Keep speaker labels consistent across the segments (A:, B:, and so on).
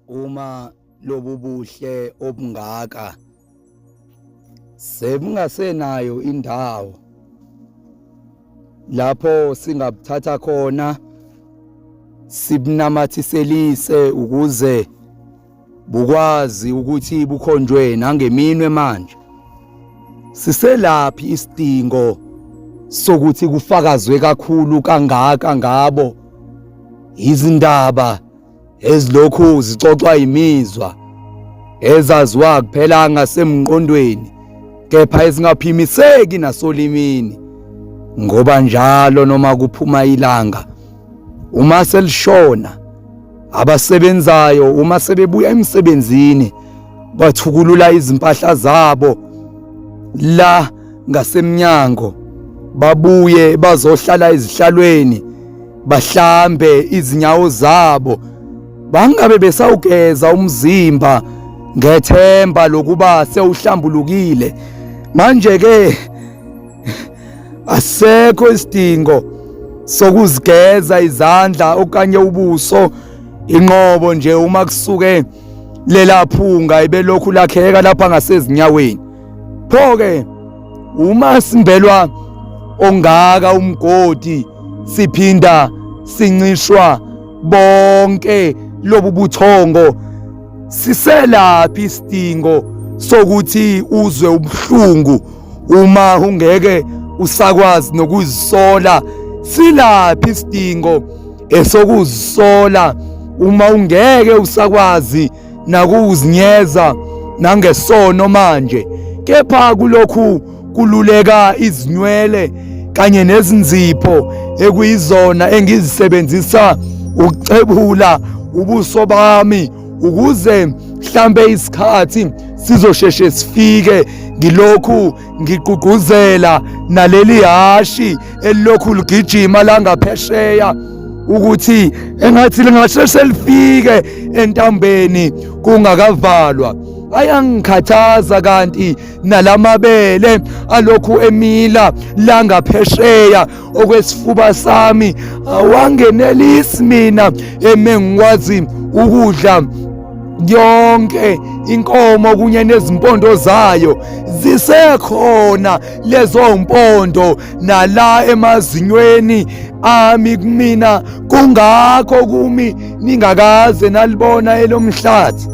A: uma lobu buhle obungaka sebungasenayo indawo lapho singabuthatha khona sibunamathiselise ukuze bukwazi ukuthi bukhonjwe nangeminwe manje siselaphi isidingo sokuthi kufakazwe kakhulu kangaka ngabo izindaba ezilokhu zixoxwa imizwa ezaziwa kuphela ngasemqondweni kepha ezingaphimiseki nasolimini ngoba njalo noma kuphuma ilanga uma selishona abasebenzayo uma sebebuya emsebenzini bathukulula izimpahla zabo la ngasemnyango babuye bazohlala ezihlalweni bahlambe izinyawo zabo bangabe besawugeza umzimba ngethemba lokuba sewuhlambulukile manje ke asekho isidingo sokuzigeza izandla okanye ubuso inqobo nje uma kusuke lelaphunga ibelokhu lakheka lapha ngasezinyaweni pho ke uma simbelwa ongaka umgodi siphinda sincishwa bonke lobu buthongo siselaphi isidingo sokuthi uzwe ubuhlungu uma ungeke usakwazi nokuzisola silaphi isidingo esokuzisola uma ungeke usakwazi nakuzinyeza nangesono manje kepha kulokhu kululeka izinywele kanye nezinzipho ekuyizona engizisebenzisa ukuxebula ubuso bami ukuze mhlambe isikhathi sizosheshe sifike ngilokhu ngigqugquzela naleli hashi elilokhu ligijima langaphesheya ukuthi engathi lingasheshe lifike entambeni kungakavalwa ayangikhathaza kanti nalamabele alokhu emila langaphesheya okwesifuba sami awangenelisi mina eme ngikwazi ukudla yonke inkomo kunye nezimpondo zayo zisekhona lezo mpondo nala emazinyweni ami kumina kungakho kumi ningakaze nalibona elomhlathi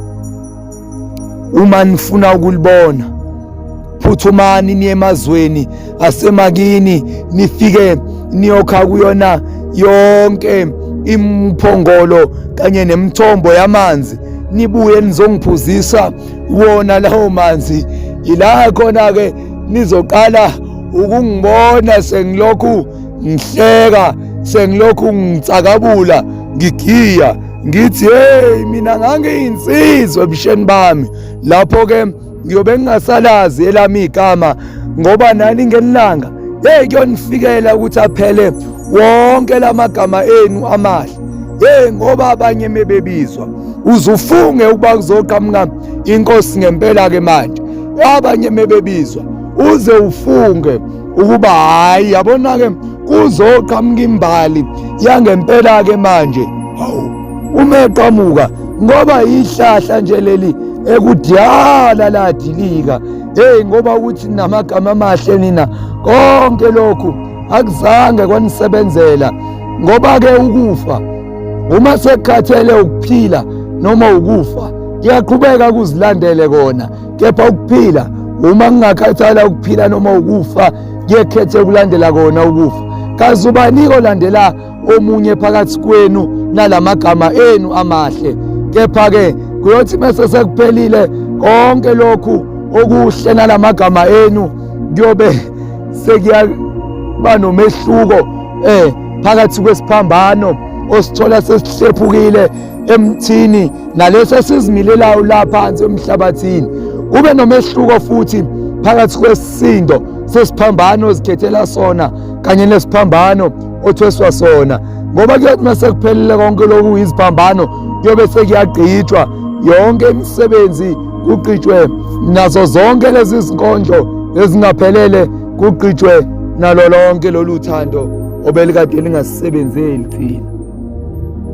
A: uma nifuna ukulibona phuthumani niye emazweni asemakini nifike niyokha kuyona yonke imphongolo kanye nemithombo yamanzi nibuye nizongiphuzisa wona lawo manzi yila khona ke nizoqala ukungibona sengilokhu ngihleka sengilokhu ngitsakabula ngigiya ngithi hey mina ngangiyinsizwa ebusheni bami lapho ke ngiyobe ngingasalazi elami igama ngoba nani ngelanga hey kuyonifikela ukuthi aphele wonke lamagama enu amahle hey ngoba abanye mebebizwa uzufunge ukuba kuzoqhamuka inkosi ngempela ke manje abanye mebebizwa uze ufunge ukuba hayi yabona-ke kuzoqhamuka imbali yangempela-ke manje hawu uma eqhamuka ngoba yihlahla nje leli ekudala ladilika heyi ngoba ukuthi namagama amahle nina konke lokhu akuzange kwanisebenzela ngoba-ke ukufa uma sekhathele ukuphila noma ukufa kuyaqhubeka kuzilandele kona kepha ukuphila uma kungakhathala ukuphila noma ukufa ngiyekhethe ukulandela kona ukufa kazi ubanike olandela omunye phakathi kwenu nalamagama enu amahle kepha ke kuyothi mase sekuphelile konke lokhu okuhle nalamagama enu kuyobe sekuyakuba nomehluko eh phakathi kwesiphambano osithola sesihlephukile emthini naleso esizimilelayo la phansi emhlabathini kube nomehluko futhi phakathi kwesisindo sesiphambano ozikhethela sona kanye nesiphambano othweswa sona ngoba kuyothi uma sekuphelile konke lokhu iziphambano kuyobe sekuyagqitshwa yonke imisebenzi kugqitshwe nazo zonke lezi zinkondlo ezingaphelele kugqitshwe nalo lonke lolu thando obelikade lingasisebenzeli thina